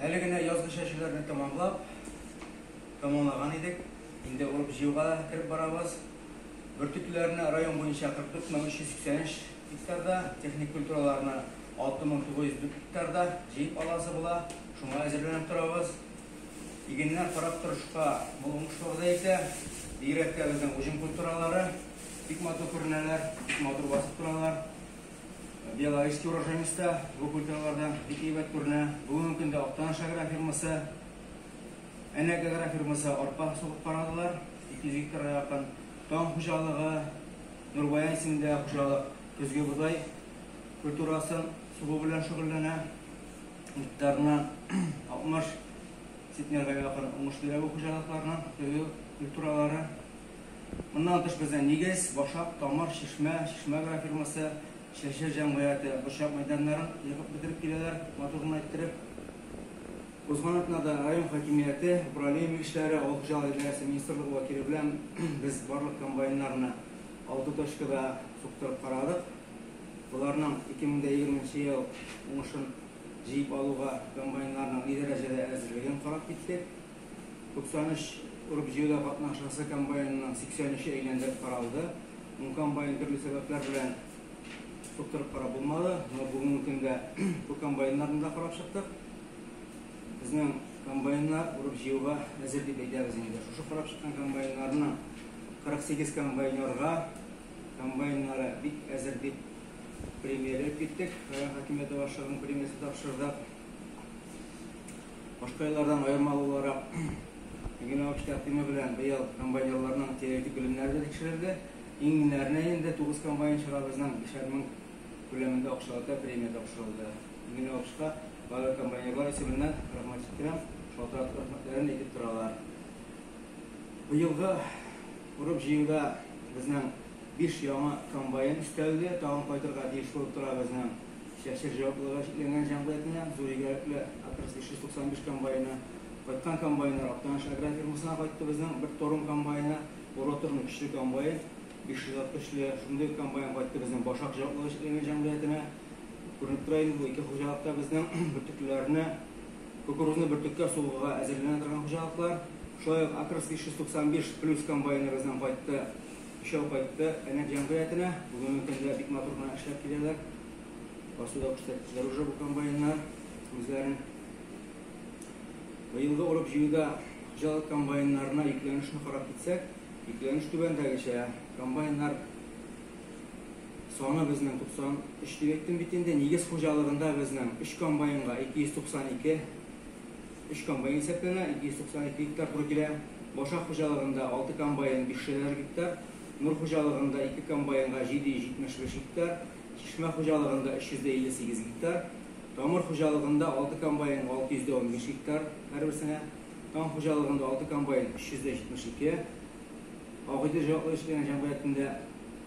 Әле генә язгы чәчүләрне тәмамлап, тәмамлаган идек. Инде урып җыюга кереп барабыз. Бөртеклеләрне район буенча 44383 гектарда, техник культураларны 6904 гектарда җыеп аласы була. Шуңа әзерләнеп торабыз. Игеннәр карап торышка мул уңышлы вәгъдә итә. Бигрәк тә безнең уҗым культуралары бик матур күренәләр, бик матур басып торалар. Белорусский урожениста бу культуралардан бик әйбәт күренә. Бүгенге көндә Актаныш агрофирмасы, Әнәк агрофирмасы арпа сугып карадылар. 200 гектарга якын Таң хуҗалыгы, Нурбаян исемендә хуҗалык көзге бодай культурасын сугу белән шөгыльләнә. Гектарына 60 центнерга якын уңыш бирә бу хуҗалыкларның көзге культуралары. Моннан тыш безнең Нигез, Башак, Тамыр, Чишмә, Чишмә агрофирмасы, Чәче җәмгыяте борчак мәйданнарын егып бетереп киләләр, матур гына иттереп. Узган атнада район хакимияте, управление белгечләре, авыл хуҗалыгы идарәсе министрлыгы вәкиле белән без барлык комбайннарны алты точкада суктырып карадык. Боларның 2020 нче ел уңышын җыеп алуга комбайннарның ни дәрәҗәдә әзерлеген карап киттек. 93 урып-җыюда катнашасы комбайнының 83-е әйләндереп каралды. Ун комбайн төрле сәбәпләр белән суктырып карап булмады. Но бүгенге көндә бу комбайннарны да карап чыктык. Безнең комбайннар урып-җыюга әзер дип әйтәбез инде. Шушы карап чыккан комбайннарның 48 комбайнерга комбайннары бик әзер дип премия биреп киттек. Район хакимияте башлыгының премиясе тапшырдык. Башка еллардан аерма буларак, Егерме биш тәкъдиме белән быел комбайнерларның теоретик белемнәре дә тикшерелде. Иңүләренә инде тугыз комбайнчыгыбызның бишәр мең күләмендә акчалата премия тапшырылды. Егерме бишка барлык комбайнерлар исеменнән рәхмәт җиткерәм, шалтыратып рәхмәтләрен әйтеп торалар. Быелгы урып-җыюда безнең биш яңа комбайн өстәлде, тагын кайтырга тиеш булып тора безнең. Чәчер җаваплылыгы чикләнгән җәмгыятенә, Зур Игәлекле Атрс 595 комбайны, кайткан комбайннар, Актаныш агрофирмасына кайттыбызның бер торым комбайны, Уроторның көчле комбайн, 500 ат көчле, шундый ук комбайн кайттыбызның Башак җаваплылыгы чикләнгән җәмгыятенә. Күренеп тора инде бу ике хуҗалыкта безнең бөртеклеләрне, кукурузны бөртеккә сугуга әзерләнә торган хуҗалыклар. Шулай ук Атрс 595 плюс комбайныбызның кайтты. Өчәү кайтты әнә җәмгыятенә. Бүгенге көндә бик матур гына эшләп киләләр. Басуда күрсәттеләр уже бу комбайннар үзләрен. Быелгы урып-җыюда хуҗалык комбайннарына йөкләнешне карап китсәк, йөкләнеш түбәндәгечә, комбайннар саны безнең 93 дип әйттем бит инде. Нигез хуҗалыгында безнең өч комбайнга 292 Өч комбайн исәпләнә, 292 гектар туры килә. Башак хуҗалыгында алты комбайн, биш шәләр гектар, Нур хуҗалыгында ике комбайнга 775 гектар, Чишмә хуҗалыгында 358 гектар, Тамыр хуҗалыгында алты комбайнга 615 гектар һәрберсенә, Таң хуҗалыгында алты комбайн 372, Агыйдел җаваплы эшләгән җәмгыятендә,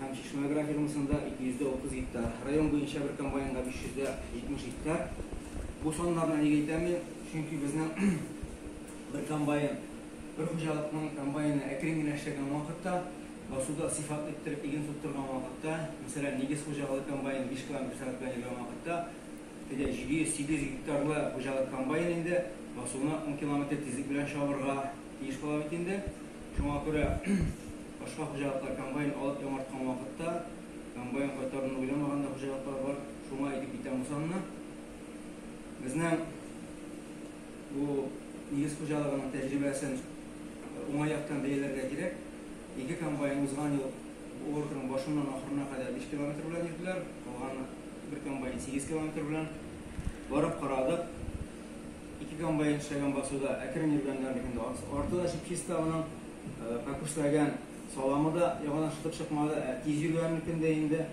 һәм Чишмә агрофирмасында 230 гектар, район буенча бер комбайнга 570 гектар. Бу саннарны нигә әйтәм мин? Чөнки безнең бер комбайн, бер хуҗалыкның комбайны әкрен генә эшләгән вакытта, басуда сыйфат иттереп иген тоттырган вакытта, мәсәлән, нигез хуҗалыгы комбайны 5 километр сәгать белән йөргән вакытта, Теге 700-800 гектарлы хуҗалык комбайн инде басуны ун километр тизлек белән чабырга тиеш була бит инде. Шуңа күрә башка хуҗалыклар комбайн алып яңарткан вакытта комбайн кайтаруны уйламаган да хуҗалыклар бар. Шуңа әйтеп китәм бу санны. Безнең бу нигез хуҗалыгының тәҗрибәсен уңай яктан бәяләргә кирәк. Ике комбайн узган ел бу уртаның башыннан ахырына кадәр биш километр белән йөрделәр, калган бер комбайн сигез километр белән. Барып карадык, ике комбайн эшләгән басуда әкрен йөргәннәрнекен дә арты да чип-чиста аның, э, кәкүшләгән саламы да яңадан шытып чыкмады, ә тиз йөргәннекен дә инде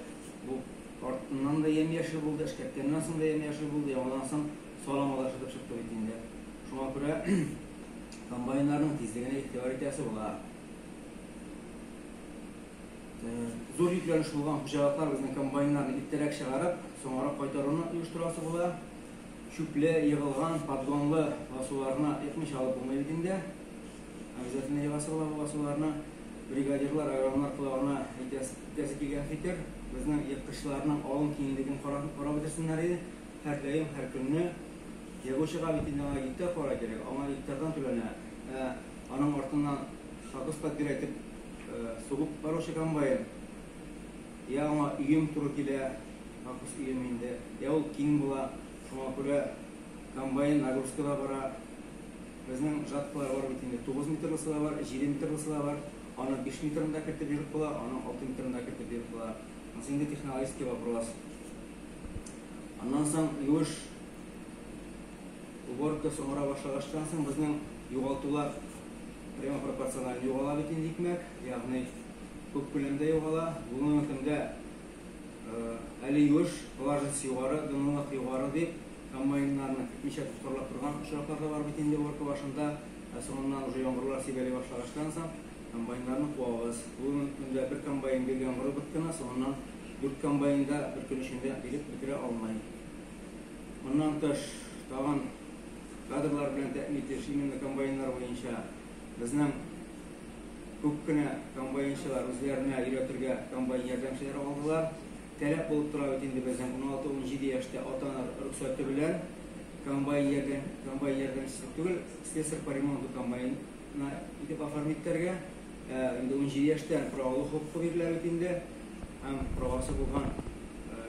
бу артыннан да ямь-яшел булды, эшкәрткәннән соң да ямь-яшел булды, яңадан соң саламы да шытып чыкты бит инде. Шуңа күрә комбайннарның тизлегенә игътибар итәсе була. Зур йөкләнеш булган хуҗалыклар безнең комбайннарны иртәрәк чыгарып, соңрак кайтаруны оештырасы була. Чүпле, егылган, поддонлы басуларына икмичә алып булмый бит инде. Обязательно егасы була бу басуларны. Бригадирлар, агрономнар колагына әйтәсе килгән фикер, безнең еккычларның алым киңлеген карап бетерсеннәр иде. Һәрдаим, һәр көнне егучыга бит инде аңа гектар кара кирәк, аңа гектардан түләнә. Ә Аның артыннан сабыз фатир әйтеп сугып баручы комбайн. Я аңа өем туры килә, Акус өем инде, я ул киң була, шуңа күрә комбайн нагрузкада бара. Безнең жаткалар бар бит инде, тугыз метрлысы да бар, җиде метрлысы да бар. Аны биш метрын да кертеп егып була, аны алты метрын да кертеп егып була. Монысы инде технологический вопрос. Аннан соң юеш Уборка соңрак башлагачтан соң безнең югалтулар прямо пропорциональ югала бит инде икмәк, ягъни күп күләмдә югала. Бүгенге көндә әле юеш, влажность югары, дымлылык югары дип комбайннарны көтмичә тоткарлап торган очраклар да бар бит инде уборка башында. Ә соңыннан уже яңгырлар сибәли башлагачтан соң комбайннарны куабыз. Бүгенге көндә бер комбайн гел яңгыр убырткана, соңыннан дүрт комбайн да бер көн эчендә биреп бетерә алмый. Моннан тыш, тагын кадрлар белән тәэмин итеш, именно комбайннар буенча безнең күп кенә комбайнчылар үзләренә өйрәтергә комбайн ярдәмчеләре алдылар. Таләп булып тора бит инде безнең 16-17 яшьтә ата-ана рөхсәте белән комбайн ярдәм, комбайн ярдәмчесе түгел, слесарь по ремонту комбайна итеп оформить итәргә. Ә, инде 17 яшьтән правалау хокукы бирелә бит инде. Һәм правасы булган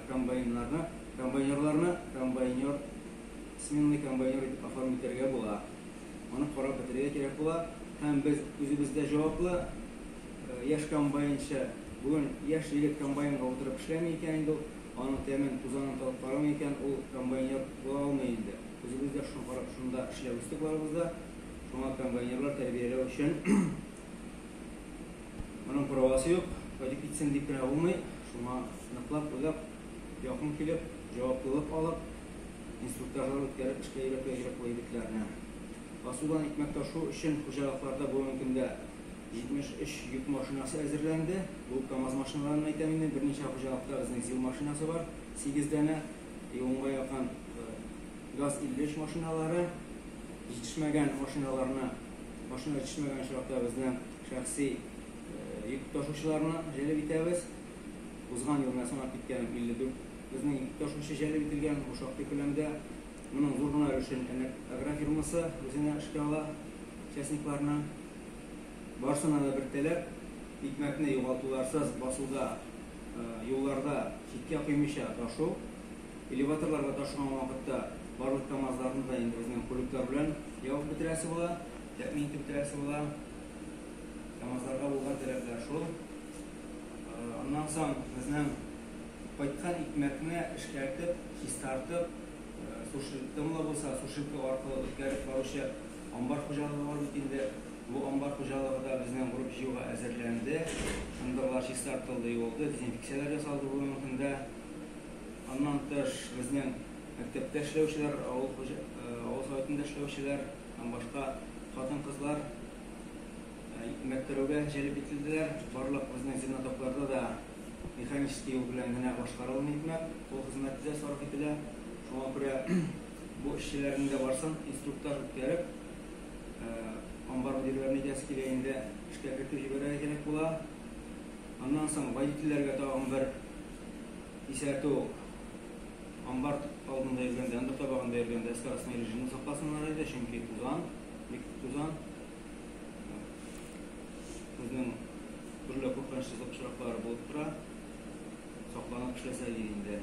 комбайннарны Комбайнерларны комбайнер, сменный комбайнер итеп оформить итәргә була. Аны карап бетерергә кирәк була. Һәм без үзебез дә җаваплы. Яшь комбайнчы, бүген яшь егет комбайнга утырып эшләми икән инде ул, аның тәмен, тузанын татып карамый икән, ул комбайнер була алмый инде. Үзебез дә шуны карап, шунда эшләп үстек барыбыз да. Шуңа комбайнерлар тәрбияләү өчен моның правасы юк, кайтып китсен дип кенә булмый. Шуңа ныклап уйлап. Якын килеп, җаваплылык алып, инструктажлар үткәреп эшкә өйрәтүгә җөрьәтле егетләрне. Асудан икмәк ташу өчен хуҗалыкларда бүгенге көндә 73 йөк машинасы әзерләнде. Бу КАМАЗ машиналарыннан әйтәм инде. Берничә хуҗалыкта безнең ЗИЛ машинасы бар, сигез данә, и унга якын ГАЗ-53 машиналары. Җитешмәгән машиналарны, машина җитешмәгән очракта безнең шәхси йөк ташучыларны җәлеп итәбез. Узган ел менә санап киткәнем 54 безнең якташучы җәлеп ителгән, бу шактый күләмдә. Моның зур гына өлешен Әлмәт агрофирмасы үзенә эшкә ала, частникларны. Барысына да бер таләп, икмәкне югалтуларсыз басуда, юлларда читкә коймыйча ташу. Элеваторларга ташыган вакытта барлык КАМАЗларны да инде безнең кулюклар белән ябып бетерәсе була, тәэмин итеп бетерәсе була. КАМАЗларга булган таләпләр шул. Аннан соң безнең кайткан икмәкне эшкәртеп, чистартып, сушилкам да булса, сушилка аркылы үткәреп баручы амбар хуҗалыгы бар бит инде. Бу амбар хуҗалыгы да безнең урып җыюга әзерләнде. Ындырлар чистартылды, юылды, дезинфекцияләр ясалды бу мөһим дә. Аннан тыш, безнең мәктәптә эшләүчеләр, авыл Советында эшләүчеләр һәм башка хатын-кызлар, Мәктәүгә җәлеп ителделәр. Барлык безнең земнотокларда да механический юл белән генә башкарылмый икмәк, кул хезмәте дә сарыф ителә. Шуңа күрә бу эшчеләрнең дә барсын инструктаж үткәреп, амбар мөдирләрен әйтәсе килә инде, эшкә кертеп җибәрергә кирәк була. Аннан соң водительләргә тагын бер исәтү, амбар алдында йөргәндә, ындыр табагында йөргәндә скоростной режимны сакласыннар иде, чөнки тузан, бик күп тузан. Безнең төрле куркыныч очраклар булып тора. Сакланып эшләсәк инде.